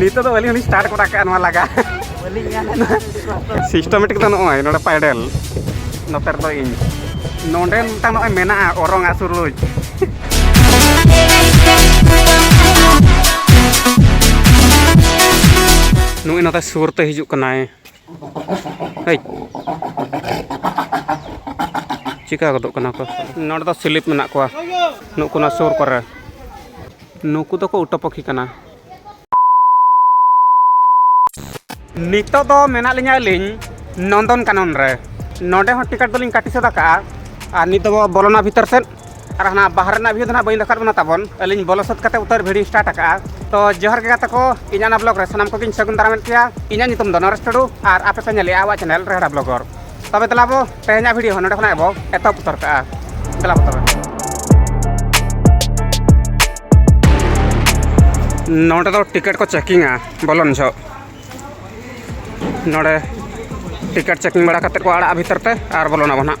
ᱱᱤᱛᱚᱜ ᱫᱚ ᱟᱹᱞᱤᱧ ᱦᱚᱸᱞᱤᱧ ᱥᱴᱟᱨᱴ ᱠᱚᱨᱟ ᱠᱟᱜᱼᱟ ᱱᱚᱣᱟ ᱞᱟᱜᱟ ᱥᱤᱥᱴᱚᱢᱮᱴᱤᱠ ᱫᱚ ᱱᱚᱜᱼᱚᱭ ᱱᱚᱰᱮ ᱯᱟᱭᱰᱮᱞ ᱱᱚᱛᱮ ᱨᱮᱫᱚ ᱤᱧ ᱱᱚᱰᱮ ᱢᱤᱫᱴᱟᱝ ᱱᱚᱜᱼᱚᱭ ᱢᱮᱱᱟᱜᱼᱟ ᱚᱨᱚᱝ ᱟᱜ ᱥᱩᱨᱩᱡ ᱱᱩᱭ ᱱᱚᱛᱮ ᱥᱩᱨ ᱛᱮ ᱦᱤᱡᱩᱜ ᱠᱟᱱᱟᱭ ᱦᱮᱡ ᱪᱤᱠᱟ ᱜᱚᱫᱚᱜ ᱠᱟᱱᱟ ᱠᱚ ᱱᱚᱰᱮ ᱫᱚ ᱥᱤᱞᱤᱯ ᱢᱮᱱᱟᱜ ᱠᱚᱣᱟ ᱱᱩᱠᱩ ᱱᱚᱣᱟ ᱥᱩᱨ ᱠᱚᱨᱮ ᱱᱩᱠᱩ ᱫᱚᱠᱚ ᱩᱴᱟᱹ ᱯᱟᱹᱠᱷᱤ ᱠᱟᱱᱟ ᱱᱤᱛᱚᱜ ᱫᱚ ᱢᱮᱱᱟᱜ ᱞᱤᱧᱟ ᱟᱹᱞᱤᱧ ᱱᱚᱱᱫᱚᱱ ᱠᱟᱱᱚᱱ ᱨᱮ ᱱᱚᱰᱮ ᱦᱚᱸ ᱴᱤᱠᱤᱴ ᱫᱚᱞᱤᱧ ᱠᱟᱹᱴᱤ ᱥᱟᱹᱛ ᱟᱠᱟᱫᱼᱟ ᱟᱨ ᱱᱤᱛᱚᱜ ᱵᱚᱞᱚᱱᱟ ᱵᱷᱤᱛᱟᱹᱨ ᱥᱮᱫ ᱟᱨ ᱦᱟᱱᱟ ᱵᱟᱦᱟᱨ ᱨᱮᱱᱟᱜ ᱵᱷᱤᱭᱩ ᱫᱚ ᱱᱟᱦᱟᱜ ᱵᱟᱹᱧ ᱫᱮᱠᱷᱟᱣ ᱵᱚᱱᱟ ᱛᱟᱵᱚᱱ ᱟᱹᱞᱤᱧ ᱵᱚᱞᱚ ᱥᱟᱹᱛ ᱠᱟᱛᱮ ᱩᱛᱟᱹᱨ ᱵᱷᱤᱰᱤᱭᱳ ᱥᱴᱟᱨᱴ ᱟᱠᱟᱜᱼᱟ ᱛᱚ ᱡᱚᱦᱟᱨ ᱜᱮ ᱜᱟᱛᱮ ᱠᱚ ᱤᱧᱟᱹᱜ ᱚᱱᱟ ᱵᱞᱚᱜ ᱨᱮ ᱥᱟᱱᱟᱢ ᱠᱚᱜᱮᱧ ᱥᱟᱹᱜᱩᱱ ᱫᱟᱨᱟᱢᱮᱫ ᱯᱮᱭᱟ ᱤᱧᱟᱹᱜ ᱧᱩᱛᱩᱢ ᱫᱚ ᱱᱚᱨᱮᱥ ᱴᱩᱰᱩ ᱟᱨ ᱟᱯᱮ ᱯᱮ ᱧᱮᱞᱮᱜᱼᱟ ᱟᱵᱚᱣᱟᱜ ᱪᱮᱱᱮᱞ ᱨᱮᱦᱲᱟ ᱵᱞᱚᱜᱚᱨ ᱛᱚᱵᱮ ᱫᱮᱞᱟ ᱵᱚ ᱛᱮᱦᱮᱧᱟᱜ ᱵᱷᱤᱰᱤᱭᱳ ᱦᱚᱸ ᱱᱚᱰᱮ ᱠᱷᱚᱱᱟᱜ ᱵᱚ ᱮᱛᱚᱦᱚᱵ ᱩᱛᱟᱹᱨ ᱠᱟᱜᱼᱟ ᱫᱮᱞᱟ ᱵᱚ ᱛᱚᱵᱮ ᱱᱚᱰᱮ ᱫᱚ ᱴᱤᱠᱮᱴ ᱠᱚ ᱪᱮᱠᱤᱝᱟ ᱵᱚᱞᱚᱱ ᱡᱷᱚᱜ ᱱᱚᱰᱮ ᱴᱤᱠᱮᱴ ᱪᱮᱠᱤᱝ ᱵᱟᱲᱟ ᱠᱟᱛᱮ ᱠᱚ ᱟᱲᱟᱜᱼᱟ ᱵᱷᱤᱛᱟᱹᱨ ᱛᱮ ᱟᱨ ᱵᱚᱞᱚᱱᱟᱵᱚ ᱱᱟᱦᱟᱜ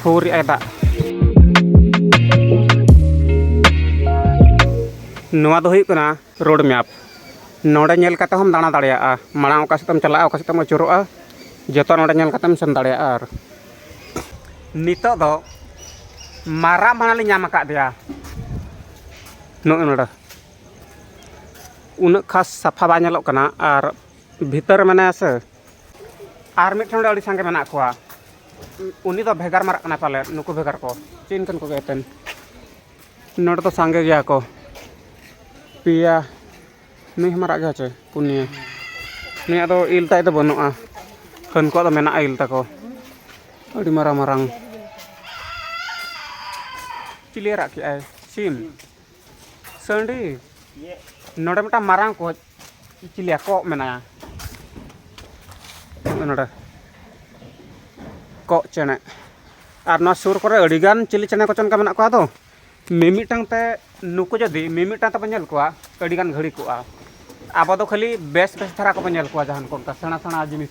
ᱯᱷᱩᱨᱤᱜᱼᱟᱭ ᱫᱟᱜ ᱱᱚᱣᱟ ᱫᱚ ᱦᱩᱭᱩᱜ ᱠᱟᱱᱟ ᱨᱳᱰ ᱢᱮᱯ ᱱᱚᱰᱮ ᱧᱮᱞ ᱠᱟᱛᱮ ᱦᱚᱸᱢ ᱫᱟᱬᱟ ᱫᱟᱲᱮᱭᱟᱜᱼᱟ ᱢᱟᱲᱟᱝ ᱚᱠᱟ ᱥᱮᱫ ᱛᱮᱢ ᱪᱟᱞᱟᱜᱼᱟ ᱚᱠᱟ ᱥᱮᱫ ᱛᱮᱢ ᱟᱹᱪᱩᱨᱚᱜᱼᱟ ᱡᱚᱛᱚ ᱱᱚᱰᱮ ᱧᱮᱞ ᱠᱟᱛᱮᱢ ᱥᱮᱱ ᱫᱟᱲᱮᱭᱟᱜᱼᱟ ᱟᱨ ᱱᱤᱛᱚᱜ ᱫᱚ ᱢᱟᱨᱟᱜ ᱢᱟᱱᱟ ᱞᱮ ᱧᱟᱢ ᱟᱠᱟᱫᱮᱭᱟ ᱱᱚᱜᱼᱚ ᱱᱚᱰᱮ ᱩᱱᱟᱹᱜ ᱠᱷᱟᱥ ᱥᱟᱯᱷᱟ ᱵᱟᱭ ᱧᱮᱞᱚᱜ ᱠᱟᱱᱟ ᱟᱨ ᱵᱷᱤᱛᱟᱹᱨ ᱨᱮ ᱢᱮᱱᱟᱭᱟ ᱥᱮ ᱟᱨ ᱢᱤᱫ ᱴᱷᱮᱱ ᱫᱚ ᱟᱹᱰᱤ ᱥᱟᱸᱜᱮ ᱢᱮᱱᱟᱜ ᱠᱚᱣᱟ ᱩᱱᱤ ᱫᱚ ᱵᱷᱮᱜᱟᱨ ᱢᱟᱨᱟᱜ ᱠᱟᱱᱟᱭ ᱯᱟᱞᱮᱫ ᱱᱩᱠᱩ ᱵᱷᱮᱜᱟᱨ ᱠᱚ ᱪᱮᱫ ᱤᱧ ᱠᱟᱱ ᱠᱚᱜᱮ ᱮᱱᱛᱮᱫ ᱱᱚᱰᱮ ᱫᱚ ᱥᱟᱸᱜᱮ ᱜᱮᱭᱟ ᱠᱚ ᱯᱮᱭᱟ ᱱᱩᱭ ᱦᱚᱸ ᱢᱟᱨᱟᱜ ᱜᱮᱭᱟᱭ ᱪᱮ ᱯᱩᱱᱭᱟᱹ ᱱᱩᱭᱟᱜ ᱫᱚ ᱤᱞ ᱛᱟᱭ ᱫᱚ ᱵᱟᱹᱱᱩᱜᱼᱟ ᱦᱟᱹᱱᱠᱩᱣᱟᱜ ᱫᱚ ᱢᱮᱱᱟᱜᱼᱟ ᱤᱞ ᱛᱟᱠᱚ ᱟᱹᱰᱤ ᱢᱟᱨᱟᱝ ᱢᱟᱨᱟᱝ ᱪᱤᱞᱤ ᱨᱟᱜ ᱠᱮᱜᱼᱟᱭ ᱥᱤᱢ ᱥᱟᱺᱰᱤ ᱱᱚᱰᱮ ᱢᱤᱫᱴᱟᱝ ᱢᱟᱨᱟᱝ ᱠᱚᱡ ᱪᱤᱞᱤ ᱠᱚᱜ ᱢᱮᱱᱟᱭᱟ ᱱᱚᱰᱮ ᱠᱚᱜ ᱪᱮᱬᱮ ᱟᱨ ᱱᱚᱣᱟ ᱥᱩᱨ ᱠᱚᱨᱮ ᱟᱹᱰᱤᱜᱟᱱ ᱪᱤᱞᱤ ᱪᱮᱬᱮ ᱠᱚᱪᱚ ᱚᱱᱠᱟ ᱢᱮᱱᱟᱜ ᱠᱚᱣᱟ ᱟᱫᱚ ᱢᱤᱢᱤᱫᱴᱟᱝ ᱛᱮ ᱱᱩᱠᱩ ᱡᱩᱫᱤ ᱢᱤᱢᱤᱫᱴᱟᱝ ᱛᱮᱵᱚᱱ ᱧᱮᱞ ᱠᱚᱣᱟ ᱟᱹᱰᱤᱜᱟᱱ ᱜᱷᱟᱹᱲᱤ ᱠᱚᱜᱼᱟ ᱟᱵᱚ ᱫᱚ ᱠᱷᱟᱹᱞᱤ ᱵᱮᱥ ᱵᱮᱥ ᱫᱷᱟᱨᱟ ᱠᱚᱵᱚᱱ ᱧᱮᱞ ᱠᱚᱣᱟ ᱡᱟᱦᱟᱱ ᱠᱚ ᱚᱱᱠᱟ ᱥᱮᱬᱟ ᱥᱮᱬᱟ ᱡᱤᱱᱤᱥ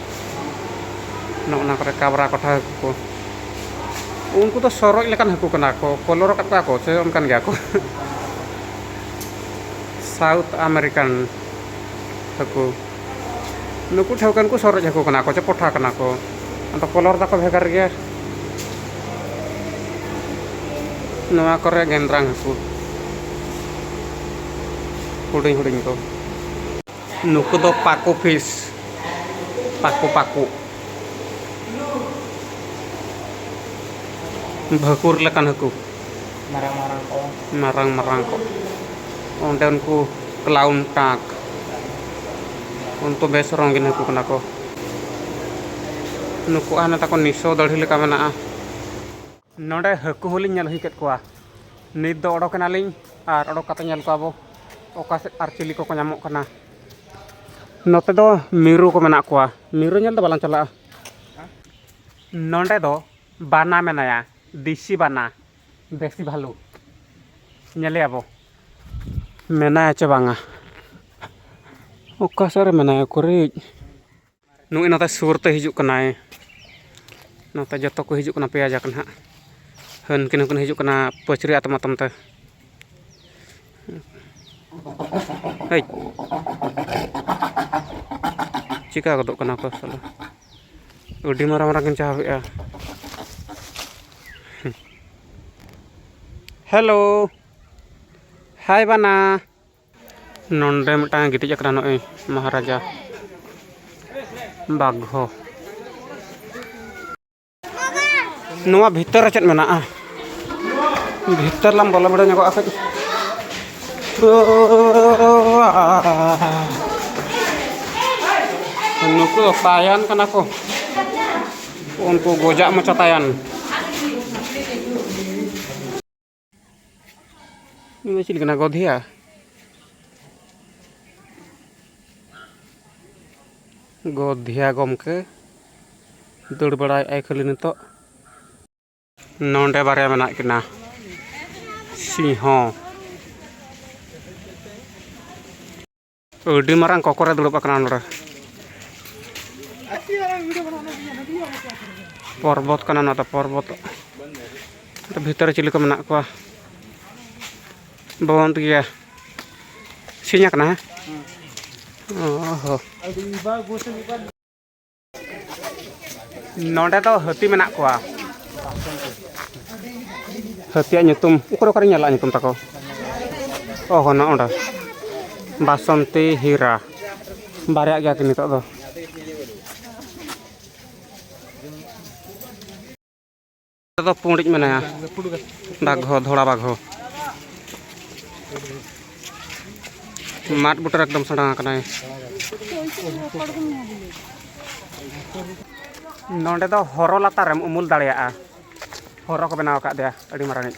ᱱᱚᱜᱼᱚ ᱱᱟ ᱠᱚᱨᱮ ᱠᱟᱵᱽᱨᱟ ᱠᱚᱴᱷᱟ ᱦᱟᱹᱠᱩ ᱠᱚ ᱩᱱᱠᱩ ᱫᱚ ᱥᱚᱨᱚᱡ ᱞᱮᱠᱟᱱ ᱦᱟᱹᱠᱩ ᱠᱟᱱᱟ ᱠᱚ ᱠᱚᱞᱚᱨ ᱟᱠᱟᱫ ᱠᱚᱣᱟ ᱠᱚ ᱥᱮ ᱚᱱᱠᱟᱱ ᱜᱮᱭᱟ ᱠᱚ ᱥᱟᱣᱩᱛᱷ ᱟᱢᱮᱨᱤᱠᱟᱱ ᱦᱟᱹᱠᱩ ᱱᱩᱠᱩ ᱴᱷᱟᱹᱣᱠᱟᱹ ᱱᱩᱠᱩ ᱥᱚᱨᱚᱡ ᱦᱟᱹᱠᱩ ᱠᱟᱱᱟ ᱠᱚ ᱥᱮ ᱯᱚᱴᱷᱟ ᱠᱟᱱᱟ ᱠᱚ ᱟᱫᱚ ᱠᱚᱞᱚᱨ ᱛᱟᱠᱚ ᱵᱷᱮᱜᱟᱨ ᱜᱮᱭᱟ ᱱᱚᱣᱟ ᱠᱚᱨᱮ ᱜᱮᱸᱫᱽᱨᱟᱝ ᱦᱟᱹᱠᱩ ᱦᱩᱰᱤᱧ ᱦᱩᱰᱤᱧ ᱠᱚ ᱱᱩᱠᱩ ᱫᱚ ᱯᱟᱠᱩ ᱯᱷᱤᱥ ᱯᱟᱠᱩ ᱯᱟᱠᱩ ᱵᱷᱟᱹᱠᱩᱨ ᱞᱮᱠᱟᱱ ᱦᱟᱹᱠᱩ ᱢᱟᱨᱟᱝ ᱢᱟᱨᱟᱝ ᱠᱚ ᱢᱟᱨᱟᱝ ᱢᱟᱨᱟᱝ ᱠᱚ ᱚᱸᱰᱮ ᱩᱱᱠᱩ ᱠᱞᱟᱣᱩᱱ ᱴᱟᱠ ᱩᱱᱠᱩ ᱵᱮᱥ ᱨᱚᱝᱜᱤᱱ ᱦᱟᱹᱠᱩ ᱠᱟᱱᱟ ᱠᱚ ᱱᱩᱠᱩᱣᱟᱜ ᱦᱟᱱᱮ ᱛᱟᱠᱚ ᱱᱤᱥᱚ ᱫᱟᱹᱲᱦᱤ ᱞᱮᱠᱟ ᱢᱮᱱᱟᱜᱼᱟ ᱱᱚᱰᱮ ᱦᱟᱹᱠᱩ ᱦᱚᱸᱞᱤᱧ ᱧᱮᱞ ᱦᱩᱭ ᱠᱮᱫ ᱠᱚᱣᱟ ᱱᱤᱛ ᱫᱚ ᱚᱰᱚᱠ ᱮᱱᱟᱞᱤᱧ ᱟᱨ ᱚᱰᱚᱠ ᱠᱟᱛᱮ ᱧᱮᱞ ᱠᱚᱣᱟ ᱵᱚ ᱚᱠᱟ ᱥᱮᱫ ᱟᱨ ᱪᱤᱞᱤ ᱠᱚᱠᱚ ᱧᱟᱢᱚᱜ ᱠᱟᱱᱟ ᱱᱚᱛᱮ ᱫᱚ ᱢᱤᱨᱩ ᱠᱚ ᱢᱮᱱᱟᱜ ᱠᱚᱣᱟ ᱢᱤᱨᱩ ᱧᱮᱞ ᱫᱚ ᱵᱟᱞᱟᱝ ᱪᱟᱞᱟᱜᱼᱟ ᱱᱚᱰᱮ ᱫᱚ ᱵᱟᱱᱟ ᱢᱮᱱᱟᱭᱟ ᱫᱮᱥᱤ ᱵᱟᱱᱟ ᱫᱮᱥᱤ ᱵᱷᱟᱞᱩ ᱧᱮᱞᱮᱭᱟ ᱵᱚ ᱢᱮᱱᱟᱭᱟ ᱪᱮ ᱵᱟᱝᱟ ᱚᱠᱟ ᱥᱮᱫ ᱨᱮ ᱢᱮᱱᱟᱭᱟ ᱩᱠᱩᱨᱤᱡ ᱱᱩᱭ ᱱᱚᱛᱮ ᱥᱩᱨ ᱛᱮ ᱦᱤᱡᱩᱜ ᱠᱟᱱᱟᱭ ᱱᱚᱛᱮ ᱡᱚᱛᱚ ᱠᱚ ᱦᱤᱡᱩᱜ ᱠᱟᱱᱟ ᱯᱮᱭᱟ ᱡᱟᱠ ᱱᱟᱦᱟᱜ ᱦᱟᱹᱱᱠᱤᱱ ᱦᱚᱸᱠᱤᱱ ᱦᱤᱡᱩᱜ ᱠᱟᱱᱟ ᱯᱟᱹᱪᱨᱤ ᱟᱛᱚᱢ ᱟᱛᱚᱢ ᱛᱮ ᱦᱮᱡ ᱪᱤᱠᱟ ᱜᱚᱫᱚᱜ ᱠᱟᱱᱟ ᱠᱚ ᱥᱟᱞᱟ ᱟᱹᱰᱤ ᱢᱟᱨᱟᱝ ᱢᱟᱨᱟᱝ ᱠᱤᱱ ᱪᱟᱦᱟᱣᱮᱜᱼᱟ ᱦᱮᱞᱳ ᱦᱟᱭ ᱵᱟᱱᱟ ᱱᱚᱰᱮ ᱢᱤᱫᱴᱟᱝ ᱜᱤᱛᱤᱡ ᱟᱠᱟᱱᱟ ᱱᱚᱜᱼᱚᱭ ᱢᱚᱦᱟᱨᱟᱡᱟ ᱵᱟᱜᱷᱚ ᱱᱚᱣᱟ ᱵᱷᱤᱛᱟᱹᱨ ᱨᱮ ᱪᱮᱫ ᱢᱮᱱᱟᱜᱼᱟ ᱵᱷᱤᱛᱟᱹᱨ ᱞᱟᱝ ᱵᱚᱞᱚ ᱵᱟᱲᱟ ᱧᱚᱜᱚᱜᱼᱟ ᱠᱟᱹᱡ ᱱᱩᱠᱩ ᱫᱚ ᱛᱟᱭᱟᱱ ᱠᱟᱱᱟ ᱠᱚ ᱩᱱᱠᱩ ᱜᱚᱡᱟᱜ ᱢᱚᱪᱟ ᱛᱟᱭᱟᱱ ᱱᱩᱭ ᱫᱚ ᱪᱤᱞᱤ ᱠᱟᱱᱟ ᱜᱚᱫᱷᱤᱭᱟ ᱜᱚᱫᱷᱤᱭᱟ ᱜᱚᱢᱠᱮ ᱫᱟᱹᱲ ᱵᱟᱲᱟᱭᱮᱫᱼᱟᱭ ᱠᱷᱟᱹᱞᱤ ᱱᱤᱛᱚᱜ ᱱᱚᱰᱮ ᱵᱟᱨᱭᱟ ᱢᱮᱱᱟᱜ ᱠᱤᱱᱟ ᱥᱤᱝᱦᱚ ᱟᱹᱰᱤ ᱢᱟᱨᱟᱝ ᱠᱚᱠᱚᱨᱮ ᱫᱩᱲᱩᱵ ᱟᱠᱟᱱᱟ ᱱᱚᱰᱮ ᱯᱚᱨᱵᱚᱛ ᱠᱟᱱᱟ ᱱᱚᱣᱟ ᱫᱚ ᱯᱚᱨᱵᱚᱛ ᱵᱷᱤᱛᱟᱹᱨ ᱨᱮ ᱪᱤᱞᱤ ᱠᱚ ᱢᱮᱱᱟᱜ ᱠᱚᱣᱟ ᱵᱚᱱᱫ ᱜᱮᱭᱟ ᱥᱤᱧ ᱟᱠᱟᱱᱟ ᱦᱮᱸ ᱚ ᱦᱚᱸ ᱱᱚᱰᱮ ᱫᱚ ᱦᱟᱹᱛᱤ ᱢᱮᱱᱟᱜ ᱠᱚᱣᱟ ᱦᱟᱹᱛᱤᱭᱟᱜ ᱧᱩᱛᱩᱢ ᱚᱠᱚᱭ ᱚᱠᱟᱨᱮ ᱧᱮᱞᱟ ᱧᱩᱛᱩᱢ ᱛᱟᱠᱚ ᱚ ᱦᱚᱸ ᱱᱚᱸᱰᱮ ᱵᱟᱥᱚᱱᱛᱤ ᱦᱤᱨᱟ ᱵᱟᱨᱭᱟᱜ ᱜᱮᱭᱟ ᱠᱤᱱ ᱱᱤᱛᱚᱜ ᱫᱚ ᱫᱚ ᱯᱩᱸᱰᱤᱡ ᱢᱮᱱᱟᱭᱟ ᱵᱟᱜᱷᱚ ᱫᱷᱚᱲᱟ ᱵᱟᱜᱷᱚ ᱢᱟᱴ ᱵᱩᱴᱟᱹᱨ ᱮᱠᱫᱚᱢ ᱥᱮᱬᱟ ᱟᱠᱟᱱᱟᱭ ᱱᱚᱰᱮ ᱫᱚ ᱦᱚᱨᱚ ᱞᱟᱛᱟᱨᱮᱢ ᱩᱢᱩᱞ ᱫᱟᱲᱮᱭᱟᱜᱼᱟ ᱦᱚᱨᱚ ᱠᱚ ᱵᱮᱱᱟᱣ ᱟᱠᱟᱫᱮᱭᱟ ᱟᱹᱰᱤ ᱢᱟᱨᱟᱝᱤᱡ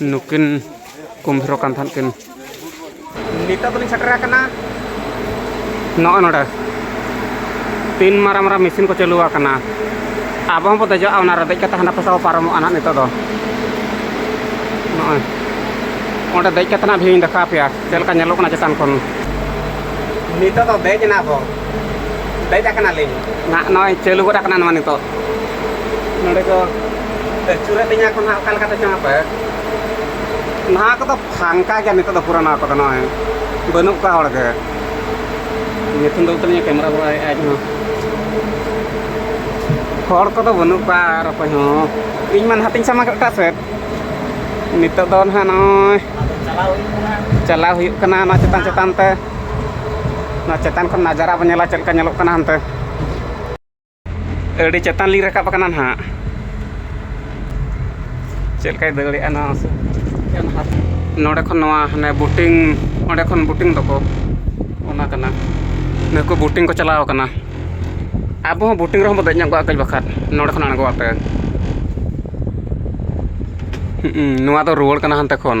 ᱱᱩᱠᱤᱱ ᱠᱩᱢᱵᱷᱤᱨᱚᱜ ᱠᱟᱱ ᱛᱟᱦᱮᱸᱫ ᱠᱤᱱ ᱱᱤᱛᱚᱜ ᱫᱚᱞᱤᱧ ᱥᱮᱴᱮᱨ ᱟᱠᱟᱱᱟ ᱱᱚᱜᱼᱚ ᱱᱚᱰᱮ ᱛᱤᱱ ᱢᱟᱨᱟᱝ ᱢᱟᱨᱟᱝ ᱢᱮᱥᱤᱱ ᱠᱚ ᱪᱟᱹᱞᱩ ᱟᱠᱟᱱᱟ ᱟᱵᱚ ᱦᱚᱸᱵᱚ ᱫᱮᱡᱚᱜᱼᱟ ᱚᱱᱟ ᱨᱮ ᱫᱮᱡ ᱠᱟᱛᱮ ᱦᱟᱱᱟ ᱯᱟᱥᱟ ᱵᱚ ᱯᱟᱨᱚᱢᱚᱜᱼᱟ ᱱᱟᱦᱟᱜ ᱱᱤᱛᱚᱜ ᱫᱚ ᱱᱚᱜᱼᱚᱭ ᱚᱸᱰᱮ ᱫᱮᱡ ᱠᱟᱛᱮ ᱱᱟᱦᱟᱜ ᱵᱷᱤᱭᱩᱧ ᱫᱮᱠᱷᱟᱣ ᱟᱯᱮᱭᱟ ᱪᱮᱫ ᱞᱮᱠᱟ ᱧᱮᱞᱚᱜ ᱠᱟᱱᱟ ᱪᱮᱛᱟᱱ ᱠᱷᱚᱱ ᱱᱤᱛᱚᱜ ᱫᱚ ᱫᱮᱡ ᱮᱱᱟ ᱵᱚ ᱫᱮᱡ ᱟᱠᱟᱱᱟᱞᱤᱧ ᱱᱟᱦᱟᱜ ᱱᱚᱜᱼᱚᱭ ᱪᱟᱹᱞᱩ ᱜᱚᱫ ᱟᱠᱟᱱᱟ ᱱᱚᱣᱟ ᱱᱤᱛᱚᱜ ᱱᱚᱰᱮ ᱠᱚ ᱟᱹᱪᱩᱨᱮᱫ ᱞᱤᱧᱟ ᱠᱚ ᱱᱟᱦᱟᱜ ᱚᱠᱟ ᱞᱮᱠᱟᱛᱮ ᱪᱚᱝ ᱟᱯᱮ ᱱᱚᱣᱟ ᱠᱚᱫᱚ ᱯᱷᱟᱝᱠᱟ ᱜᱮᱭᱟ ᱱᱤᱛᱚᱜ ᱫᱚ ᱯᱩᱨᱟᱹ ᱱᱚᱣᱟ ᱠᱚᱫᱚ ᱱᱚᱜᱼᱚᱭ ᱵᱟᱹᱱᱩᱜ ᱠᱚᱣᱟ ᱦᱚᱲ ᱜᱮ ᱧᱩᱛᱩᱢ ᱫᱚ ᱛᱟᱹᱞᱤᱧᱟ ᱠᱮᱢᱮᱨᱟ ᱵᱟᱲᱟᱭᱮᱫ ᱟᱡ ᱦᱚᱸ ᱦᱚᱲ ᱠᱚᱫᱚ ᱵᱟᱹᱱᱩᱜ ᱠᱚᱣᱟ ᱟᱨ ᱚᱠᱚᱭ ᱦᱚᱸ ᱤᱧ ᱢᱟ ᱱᱟᱦᱟᱜ ᱛᱤᱧ ᱥᱟᱢᱟᱝ ᱠᱮᱫ ᱮᱴᱟᱜ ᱥᱮᱫ ᱱᱤᱛᱚᱜ ᱫᱚ ᱱᱟᱦᱟᱜ ᱱᱚᱜᱼᱚᱭ ᱪᱟᱞᱟᱣ ᱦᱩᱭᱩᱜ ᱠᱟᱱᱟ ᱱᱚᱣᱟ ᱪᱮᱛᱟᱱ ᱪᱮᱛᱟᱱ ᱛᱮ ᱱᱚᱣᱟ ᱪᱮᱛᱟᱱ ᱠᱷᱚᱱ ᱱᱟᱡᱟᱨᱟ ᱵᱚᱱ ᱧᱮᱞᱟ ᱪᱮᱫ ᱞᱮᱠᱟ ᱧᱮᱞᱚᱜ ᱠᱟᱱᱟ ᱦᱟᱱᱛᱮ ᱟᱹᱰᱤ ᱪᱮᱛᱟᱱ ᱞᱤᱧ ᱨᱟᱠᱟᱵ ᱟᱠᱟᱱᱟ ᱱᱟᱦᱟᱜ ᱪᱮᱫ ᱞᱮᱠᱟᱭ ᱫᱟᱹᱲᱮᱜᱼᱟ ᱱᱚᱣᱟ ᱱᱚᱰᱮ ᱠᱷᱚᱱ ᱱᱚᱣᱟ ᱦᱟᱱᱮ ᱵᱳᱴᱤᱝ ᱚᱸᱰᱮ ᱠᱷᱚᱱ ᱵᱳᱴᱤᱝ ᱫᱚᱠᱚ ᱚᱱᱟ ᱠᱟᱱᱟ ᱱᱩᱠᱩ ᱵᱳᱴᱤᱝ ᱠᱚ ᱪᱟᱞᱟᱣ ᱠᱟᱱᱟ ᱟᱵᱚ ᱦᱚᱸ ᱵᱳᱴᱤᱝ ᱨᱮᱦᱚᱸ ᱵᱚᱱ ᱫᱮᱡ ᱧᱚᱜᱚᱜᱼᱟ ᱠᱟᱹᱡ ᱵᱟᱠᱷᱟᱡ ᱱᱚᱰᱮ ᱠᱷᱚᱱ ᱟᱬᱜᱚ ᱠᱟᱛᱮᱫ ᱱᱚᱣᱟ ᱫᱚ ᱨᱩᱣᱟᱹᱲ ᱠᱟᱱᱟ ᱦᱟᱱᱛᱮ ᱠᱷᱚᱱ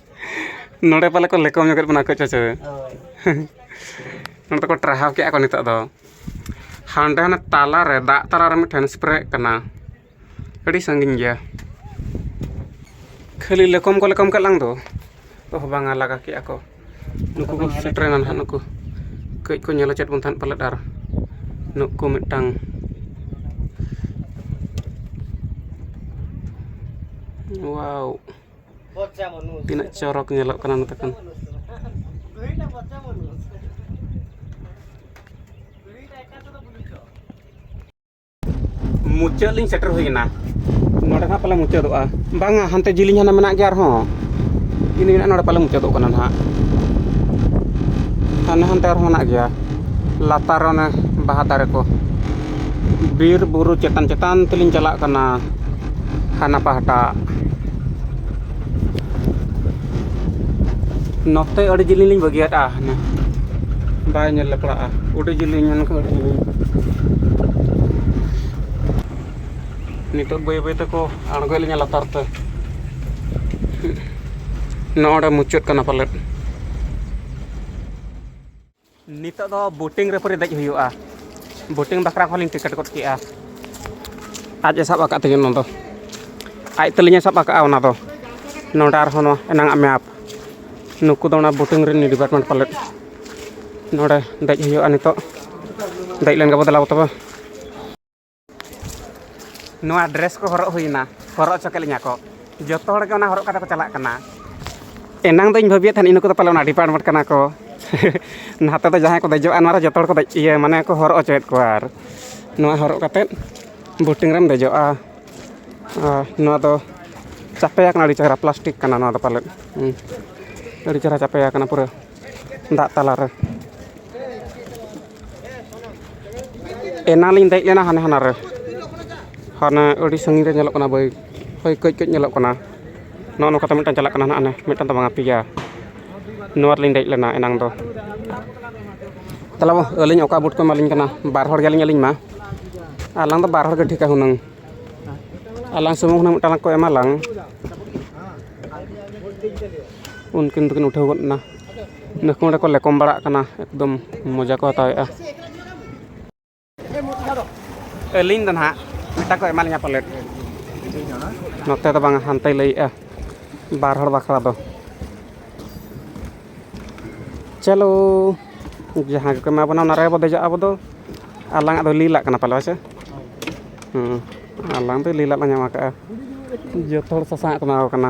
ᱱᱚᱰᱮ ᱯᱟᱞᱮ ᱠᱚ ᱞᱮᱠᱚ ᱧᱚᱜᱮᱫ ᱵᱚᱱᱟ ᱠᱟᱹᱡ ᱦᱮᱸᱥᱮ ᱱᱚᱰᱮ ᱫᱚᱠᱚ ᱴᱟᱨᱦᱟᱣ ᱠᱮᱜᱼᱟ ᱠᱚ ᱱᱤᱛᱚᱜ ᱫᱚ ᱦᱟᱸᱰᱮ ᱦᱟᱱᱮ ᱛᱟᱞᱟ ᱨᱮ ᱫᱟᱜ ᱛᱟᱞᱟ ᱨᱮ ᱢᱤᱫᱴᱮᱱ ᱥᱯᱨᱮᱜ ᱠᱟᱱᱟ ᱟᱹᱰᱤ ᱥᱟᱺᱜᱤᱧ ᱜᱮᱭᱟ ᱠᱷᱟᱹᱞᱤ ᱞᱮᱠᱚᱢ ᱠᱚ ᱞᱮᱠᱚᱢ ᱠᱮᱫ ᱞᱟᱝ ᱫᱚ ᱚᱦ ᱵᱟᱝᱟ ᱞᱟᱜᱟ ᱠᱮᱜᱼᱟ ᱠᱚ ᱱᱩᱠᱩ ᱠᱚ ᱥᱮᱴᱮᱨᱮᱱᱟ ᱱᱟᱦᱟᱜ ᱱᱩᱠᱩ ᱠᱟᱹᱡ ᱠᱚ ᱧᱮᱞ ᱦᱚᱪᱚᱭᱮᱫ ᱵᱚᱱ ᱛᱟᱦᱮᱸᱫ ᱯᱟᱞᱮᱫ ᱟᱨ ᱱᱩᱠᱩ ᱢᱤᱫᱴᱟᱝ ᱳᱣᱟᱣ ᱛᱤᱱᱟᱹᱜ ᱪᱚᱨᱚᱠ ᱧᱮᱞᱚᱜ ᱠᱟᱱᱟ ᱱᱚᱛᱮ ᱠᱷᱚᱱ ᱢᱩᱪᱟᱹᱫ ᱞᱤᱧ ᱥᱮᱴᱮᱨ ᱦᱩᱭ ᱮᱱᱟ ᱱᱚᱰᱮ ᱱᱟᱦᱟᱜ ᱯᱟᱞᱮ ᱢᱩᱪᱟᱹᱫᱚᱜᱼᱟ ᱵᱟᱝᱟ ᱦᱟᱱᱛᱮ ᱡᱤᱞᱤᱧ ᱦᱟᱱᱟ ᱢᱮᱱᱟᱜ ᱜᱮᱭᱟ ᱟᱨᱦᱚᱸ ᱤᱱᱟᱹ ᱢᱮᱱᱟᱜᱼᱟ ᱱᱚᱰᱮ ᱯᱟᱞᱮ ᱢᱩᱪᱟᱹᱫᱚᱜ ᱠᱟᱱᱟ ᱱᱟᱦᱟᱜ ᱦᱟᱱᱮ ᱦᱟᱱᱛᱮ ᱟᱨᱦᱚᱸ ᱢᱮᱱᱟᱜ ᱜᱮᱭᱟ ᱞᱟᱛᱟᱨ ᱚᱱᱮ ᱵᱟᱦᱟ ᱫᱟᱨᱮ ᱠᱚ ᱵᱤᱨᱼᱵᱩᱨᱩ ᱪᱮᱛᱟᱱ ᱪᱮᱛᱟᱱ ᱛᱮᱞᱤᱧ ᱪᱟᱞᱟᱜ ᱠᱟᱱᱟ ᱦᱟᱱᱟ ᱯᱟᱦᱴᱟ ᱱᱚᱛᱮ ᱟᱹᱰᱤ ᱡᱤᱞᱤᱧ ᱞᱤᱧ ᱵᱟᱹᱜᱤᱭᱟᱫᱼᱟ ᱦᱟᱱᱮ ᱵᱟᱭ ᱧᱮᱞ ᱞᱮᱯᱲᱟᱜᱼᱟ ᱟᱹᱰᱤ ᱡᱤᱞᱤᱧ ᱢᱮᱱᱠᱷᱟᱱ ᱟᱹᱰᱤ ᱡᱤᱞᱤᱧ ᱱᱤᱛᱚᱜ ᱵᱟᱹᱭ ᱵᱟᱹᱭ ᱛᱮᱠᱚ ᱟᱬᱜᱚᱭᱮᱫ ᱞᱤᱧᱟ ᱞᱟᱛᱟᱨ ᱛᱮ ᱱᱚᱰᱮ ᱢᱩᱪᱟᱹᱫ ᱠᱟᱱᱟ ᱯᱟᱞᱮᱫ ᱱᱤᱛᱚᱜ ᱫᱚ ᱵᱳᱴᱤᱝ ᱨᱮ ᱯᱚᱨᱮ ᱫᱮᱡ ᱦᱩᱭᱩᱜᱼᱟ ᱵᱳᱴᱤᱝ ᱵᱟᱠᱷᱨᱟ ᱠᱚᱦᱚᱸ ᱞᱤᱧ ᱴᱤᱠᱤᱴ ᱜᱚᱫ ᱠᱮᱜᱼᱟ ᱟᱡ ᱮ ᱥᱟᱵ ᱟᱠᱟᱫ ᱛᱤᱧᱟᱹ ᱚᱱᱟ ᱫᱚ ᱟᱡ ᱛᱟᱹᱞᱤᱧ ᱮ ᱥᱟᱵ ᱟᱠᱟᱫᱼᱟ ᱚᱱᱟ ᱫᱚ ᱱᱚᱰᱮ ᱟᱨᱦᱚᱸ ᱱᱚᱣᱟ ᱮᱱᱟᱝ ᱟᱜ ᱢᱮᱯ ᱱᱩᱠᱩ ᱫᱚ ᱚᱱᱟ ᱵᱳᱴᱤᱝ ᱨᱮᱱ ᱰᱤᱯᱟᱨᱴᱢᱮᱱᱴ ᱯᱟᱞᱮᱫ ᱱᱚᱰᱮ ᱫᱮᱡ ᱦᱩᱭᱩᱜᱼᱟ ᱱᱤᱛᱚᱜ ᱫᱮᱡ ᱞᱮᱱ ᱜᱮᱵᱚᱱ ᱫᱮᱞᱟ ᱛᱚᱵᱮ ᱱᱚᱣᱟ ᱰᱨᱮᱥ ᱠᱚ ᱦᱚᱨᱚᱜ ᱦᱩᱭᱱᱟ ᱦᱚᱨᱚᱜ ᱦᱚᱪᱚ ᱠᱮᱫ ᱞᱤᱧᱟ ᱠᱚ ᱡᱚᱛᱚ ᱦᱚᱲ ᱜᱮ ᱚᱱᱟ ᱦᱚᱨᱚᱜ ᱠᱟᱛᱮ ᱠᱚ ᱪᱟᱞᱟᱜ ᱠᱟᱱᱟ ᱮᱱᱟᱝ ᱫᱚᱧ ᱵᱷᱟᱹᱵᱤᱭᱮᱫ ᱛᱟᱦᱮᱱ ᱤᱱᱟᱹ ᱠᱚᱫᱚ ᱯᱟᱞᱮ ᱚᱱᱟ ᱰᱤᱯᱟᱨᱴᱢᱮᱱᱴ ᱠᱟᱱᱟ ᱠᱚ ᱱᱟᱛᱮ ᱫᱚ ᱡᱟᱦᱟᱸᱭ ᱠᱚ ᱫᱮᱡᱚᱜᱼᱟ ᱱᱚᱣᱟ ᱨᱮ ᱡᱚᱛᱚ ᱦᱚᱲ ᱠᱚ ᱫᱮᱡ ᱤᱭᱟᱹ ᱢᱟᱱᱮ ᱠᱚ ᱦᱚᱨᱚᱜ ᱦᱚᱪᱚᱭᱮᱫ ᱠᱚᱣᱟ ᱟᱨ ᱱᱚᱣᱟ ᱦᱚᱨᱚᱜ ᱠᱟᱛᱮ ᱵᱳᱴᱤᱝ ᱨᱮᱢ ᱫᱮᱡᱚᱜᱼᱟ ᱟᱨ ᱱᱚᱣᱟ ᱫᱚ ᱪᱟᱯᱮ ᱟᱠᱟᱱᱟ ᱟᱹᱰᱤ ᱪᱮᱦᱨᱟ ᱯᱞᱟᱥᱴᱤᱠ ᱠᱟᱱᱟ ᱱᱚᱣᱟ ᱫᱚ ᱯᱟᱞᱮᱫ ᱟᱹᱰᱤ ᱪᱮᱦᱨᱟ ᱪᱟᱯᱮ ᱟᱠᱟᱱᱟ ᱯᱩᱨᱟᱹ ᱫᱟᱜ ᱛᱟᱞᱟᱨᱮ ᱮᱱᱟᱱ ᱞᱤᱧ ᱫᱮᱡ ᱞᱮᱱᱟ ᱦᱟᱱᱮ ᱦᱟᱱᱟᱨᱮ ᱦᱟᱱᱮ ᱟᱹᱰᱤ ᱥᱟᱺᱜᱤᱧ ᱨᱮ ᱧᱮᱞᱚᱜ ᱠᱟᱱᱟ ᱵᱟᱹᱭ ᱦᱳᱭ ᱠᱟᱹᱡ ᱠᱟᱹᱡ ᱧᱮᱞᱚᱜ ᱠᱟᱱᱟ ᱱᱚᱜᱼᱚ ᱱᱚᱝᱠᱟᱛᱮ ᱢᱤᱫᱴᱟᱱ ᱪᱟᱞᱟᱜ ᱠᱟᱱᱟ ᱦᱟᱸᱜ ᱦᱟᱱᱮ ᱢᱤᱫᱴᱟᱱ ᱫᱚ ᱵᱟᱝᱟ ᱯᱮᱭᱟ ᱱᱚᱣᱟ ᱨᱮᱞᱤᱧ ᱫᱮᱡ ᱞᱮᱱᱟ ᱮᱱᱟᱝ ᱫᱚ ᱛᱟᱦᱚᱞᱮ ᱟᱹᱞᱤᱧ ᱚᱠᱟ ᱵᱩᱴ ᱠᱚ ᱮᱢᱟᱞᱤᱧ ᱠᱟᱱᱟ ᱵᱟᱨ ᱦᱚᱲ ᱜᱮᱭᱟᱞᱤᱧ ᱟᱹᱞᱤᱧ ᱢᱟ ᱟᱞᱟᱝ ᱫᱚ ᱵᱟᱨ ᱦᱚᱲ ᱜᱮ ᱴᱷᱤᱠᱟ ᱦᱩᱱᱟᱹᱝ ᱟᱞᱟᱝ ᱥᱩᱢᱩᱝ ᱦᱩᱱᱟᱹᱝ ᱢᱤᱫᱴᱟᱱ ᱠᱚ ᱮᱢᱟᱞᱟᱝ ᱩᱱᱠᱤᱱ ᱫᱚᱠᱤᱱ ᱩᱴᱷᱟᱹᱣ ᱜᱚᱫ ᱮᱱᱟ ᱱᱩᱠᱩ ᱚᱸᱰᱮ ᱠᱚ ᱞᱮᱠᱚᱢ ᱵᱟᱲᱟᱜ ᱠᱟᱱᱟ ᱮᱠᱫᱚᱢ ᱢᱚᱡᱟ ᱠᱚ ᱦᱟᱛᱟᱣ ᱮᱜᱼᱟ ᱟᱹᱞᱤᱧ ᱫᱚ ᱱᱟᱦᱟᱜ ᱢᱤᱫᱴᱟᱝ ᱠᱚ ᱮᱢᱟ ᱞᱤᱧᱟ ᱯᱟᱞᱮᱫ ᱱᱚᱛᱮ ᱫᱚ ᱵᱟᱝᱟ ᱦᱟᱱᱛᱮᱭ ᱞᱟᱹᱭᱮᱜᱼᱟ ᱵᱟᱨ ᱦᱚᱲ ᱵᱟᱠᱷᱨᱟ ᱫᱚ ᱪᱚᱞᱚ ᱡᱟᱦᱟᱸ ᱜᱮᱠᱚ ᱮᱢᱟ ᱵᱚᱱᱟ ᱚᱱᱟ ᱨᱮᱜᱮ ᱵᱚ ᱫᱮᱡᱚᱜᱼᱟ ᱟᱵᱚ ᱫᱚ ᱟᱞᱟᱝ ᱟᱜ ᱫᱚ ᱞᱤᱞᱟᱜ ᱠᱟᱱᱟ ᱯᱟᱞᱮ ᱦᱮᱸᱥᱮ ᱦᱮᱸ ᱟᱞᱟᱝ ᱫᱚ ᱞᱤᱞᱟᱜ ᱞᱟᱝ ᱧᱟᱢ ᱟᱠᱟᱫᱼᱟ ᱡᱚᱛᱚ ᱦᱚᱲ ᱥᱟᱥᱟᱝ ᱟᱜ ᱠᱚ ᱮᱢᱟ ᱠᱚ ᱠᱟᱱᱟ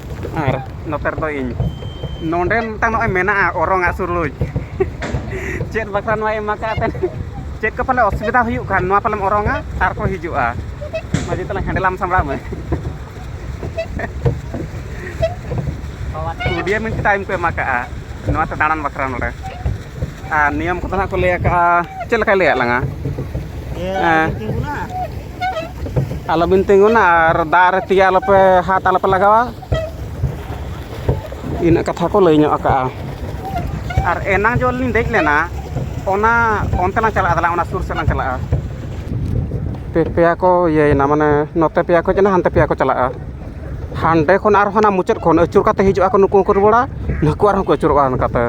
ᱟᱨ ᱱᱚᱛᱮ ᱨᱮᱫᱚ ᱤᱧ ᱱᱚᱰᱮ ᱢᱤᱫᱴᱟᱝ ᱱᱚᱜᱼᱚᱸᱭ ᱢᱮᱱᱟᱜᱼᱟ ᱚᱨᱚᱝ ᱟᱜ ᱥᱩᱨᱩᱡᱽ ᱪᱮᱫ ᱵᱟᱠᱷᱨᱟ ᱱᱚᱣᱟᱭ ᱮᱢ ᱠᱟᱜᱼᱟ ᱮᱱᱛᱮᱫ ᱪᱮᱫ ᱠᱚ ᱯᱟᱞᱮ ᱚᱥᱩᱵᱤᱫᱟ ᱦᱩᱭᱩᱜ ᱠᱷᱟᱱ ᱱᱚᱣᱟ ᱯᱟᱞᱮᱢ ᱚᱨᱚᱝᱟ ᱟᱨ ᱠᱚ ᱦᱤᱡᱩᱜᱼᱟ ᱢᱟᱹᱡᱷᱤ ᱛᱟᱞᱟᱝ ᱦᱮᱱᱰᱮᱞ ᱟᱢ ᱥᱟᱢᱵᱲᱟᱣ ᱢᱮ ᱠᱩᱰᱤᱭᱟᱹ ᱢᱤᱱᱴ ᱴᱟᱭᱤᱢ ᱠᱚ ᱮᱢ ᱠᱟᱜᱼᱟ ᱱᱚᱣᱟᱛᱮ ᱫᱟᱬᱟᱱ ᱵᱟᱠᱷᱨᱟ ᱱᱚᱰᱮ ᱟᱨ ᱱᱤᱭᱚᱢ ᱠᱚᱫᱚ ᱦᱟᱸᱜ ᱠᱚ ᱞᱟᱹᱭ ᱠᱟᱜᱼᱟ ᱪᱮᱫ ᱞᱮᱠᱟᱭ ᱞᱟᱹᱭᱟᱫ ᱞᱟᱝᱟ ᱦᱮᱸ ᱟᱞᱚᱵᱤᱱ ᱛᱤᱸᱜᱩᱱᱟ ᱟᱨ ᱫᱟᱜ ᱨᱮ ᱛᱤ ᱟᱞᱚᱯᱮ ᱦᱟᱛ ᱟᱞᱚᱯᱮ ᱞᱟᱜᱟᱣᱟ ᱤᱱᱟᱹᱜ ᱠᱟᱛᱷᱟ ᱠᱚ ᱞᱟᱹᱭ ᱧᱚᱜ ᱠᱟᱜᱼᱟ ᱟᱨ ᱮᱱᱟᱝ ᱡᱚᱠᱷᱚᱱ ᱞᱤᱧ ᱫᱮᱡ ᱞᱮᱱᱟ ᱚᱱᱟ ᱚᱱᱛᱮ ᱞᱟᱝ ᱪᱟᱞᱟᱜᱼᱟ ᱫᱮᱞᱟ ᱚᱱᱟ ᱥᱩᱨ ᱥᱮᱫ ᱞᱟᱝ ᱪᱟᱞᱟᱜᱼᱟ ᱯᱮ ᱯᱮᱭᱟ ᱠᱚ ᱤᱭᱟᱹᱭᱮᱱᱟ ᱢᱟᱱᱮ ᱱᱚᱛᱮ ᱯᱮᱭᱟ ᱠᱚ ᱦᱮᱡ ᱮᱱᱟ ᱦᱟᱱᱛᱮ ᱯᱮᱭᱟ ᱠᱚ ᱪᱟᱞᱟᱜᱼᱟ ᱦᱟᱱᱰᱮ ᱠᱷᱚᱱ ᱟᱨ ᱦᱟᱱᱟ ᱢᱩᱪᱟᱹᱫ ᱠᱷᱚᱱ ᱟᱹᱪᱩᱨ ᱠᱟᱛᱮᱫ ᱦᱤᱡᱩᱜ ᱟᱠᱚ ᱱᱩᱠᱩ ᱦᱚᱸᱠᱚ ᱨᱩᱣᱟᱹᱲᱟ ᱱᱩᱠᱩ ᱟᱨᱦᱚᱸ ᱠᱚ ᱟᱹᱪᱩᱨᱚᱜᱼᱟ ᱚᱱᱠᱟᱛᱮ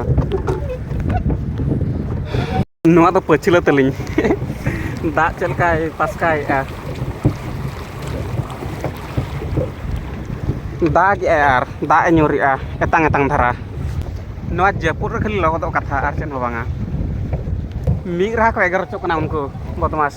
ᱱᱚᱣᱟ ᱫᱚ ᱯᱟᱹᱪᱷᱞᱟᱹ ᱛᱟᱹᱞᱤᱧ ᱫᱟᱜ ᱪᱮᱫ ᱞᱮᱠᱟᱭ ᱯᱟᱥᱠᱟᱭᱮᱜᱼᱟ ᱫᱟᱜ ᱮᱜᱼᱟᱭ ᱟᱨ ᱫᱟᱜ ᱮ ᱧᱩᱨᱮᱜᱼᱟ ᱮᱛᱟᱝ ᱮᱛᱟᱝ ᱫᱷᱟᱨᱟ ᱱᱚᱣᱟ ᱡᱟᱹᱯᱩᱫ ᱨᱮ ᱠᱷᱟᱹᱞᱤ ᱞᱚᱦᱚᱫᱚᱜ ᱠᱟᱛᱷᱟ ᱟᱨ ᱪᱮᱫ ᱦᱚᱸ ᱵᱟᱝᱟ ᱢᱤᱫ ᱨᱟᱦᱟ ᱠᱚ ᱮᱜᱮᱨ ᱦᱚᱪᱚᱜ ᱠᱟᱱᱟ ᱩᱱᱠᱩ ᱵᱚᱫᱢᱟᱥ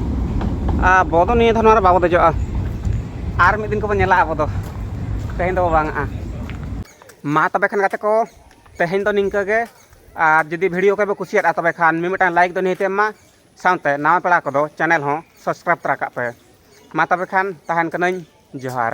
ᱟᱵᱚ ᱫᱚ ᱱᱤᱭᱟᱹ ᱫᱷᱟᱣ ᱱᱚᱣᱟ ᱨᱮ ᱵᱟᱵᱚ ᱫᱮᱡᱚᱜᱼᱟ ᱟᱨ ᱢᱤᱫ ᱫᱤᱱ ᱠᱚᱵᱚ ᱧᱮᱞᱟ ᱟᱵᱚ ᱫᱚ ᱛᱮᱦᱮᱧ ᱫᱚᱵᱚ ᱵᱟᱝᱟᱜᱼᱟ ᱢᱟ ᱛᱚᱵᱮ ᱠᱷᱟᱱ ᱜᱟᱛᱮ ᱠᱚ ᱛᱮᱦᱮᱧ ᱫᱚ ᱱᱤᱝᱠᱟᱹ ᱜᱮ ᱟᱨ ᱡᱩᱫᱤ ᱵᱷᱤᱰᱤᱭᱳ ᱠᱚᱯᱮ ᱠᱩᱥᱤᱭᱟᱫᱼᱟ ᱛᱚᱵᱮ ᱠᱷᱟᱱ ᱢᱤᱢᱤᱫᱴᱟᱝ ᱞᱟᱭᱤᱠ ᱫᱚ ᱱᱤᱦᱟᱹᱛ ᱮᱢ ᱢᱟ ᱥᱟᱶᱛᱮ ᱱᱟᱣᱟ ᱯᱮᱲᱟ ᱠᱚᱫᱚ ᱪᱮᱱᱮᱞ ᱦᱚᱸ ᱥᱟᱵᱥᱠᱨᱟᱭᱤᱵᱽ ᱛᱚᱨᱟ ᱠᱟᱜ ᱯᱮ ᱢᱟ ᱛᱚᱵᱮ ᱠᱷᱟᱱ ᱛᱟᱦᱮᱱ ᱠᱟᱹᱱᱟᱹᱧ ᱡᱚᱦᱟᱨ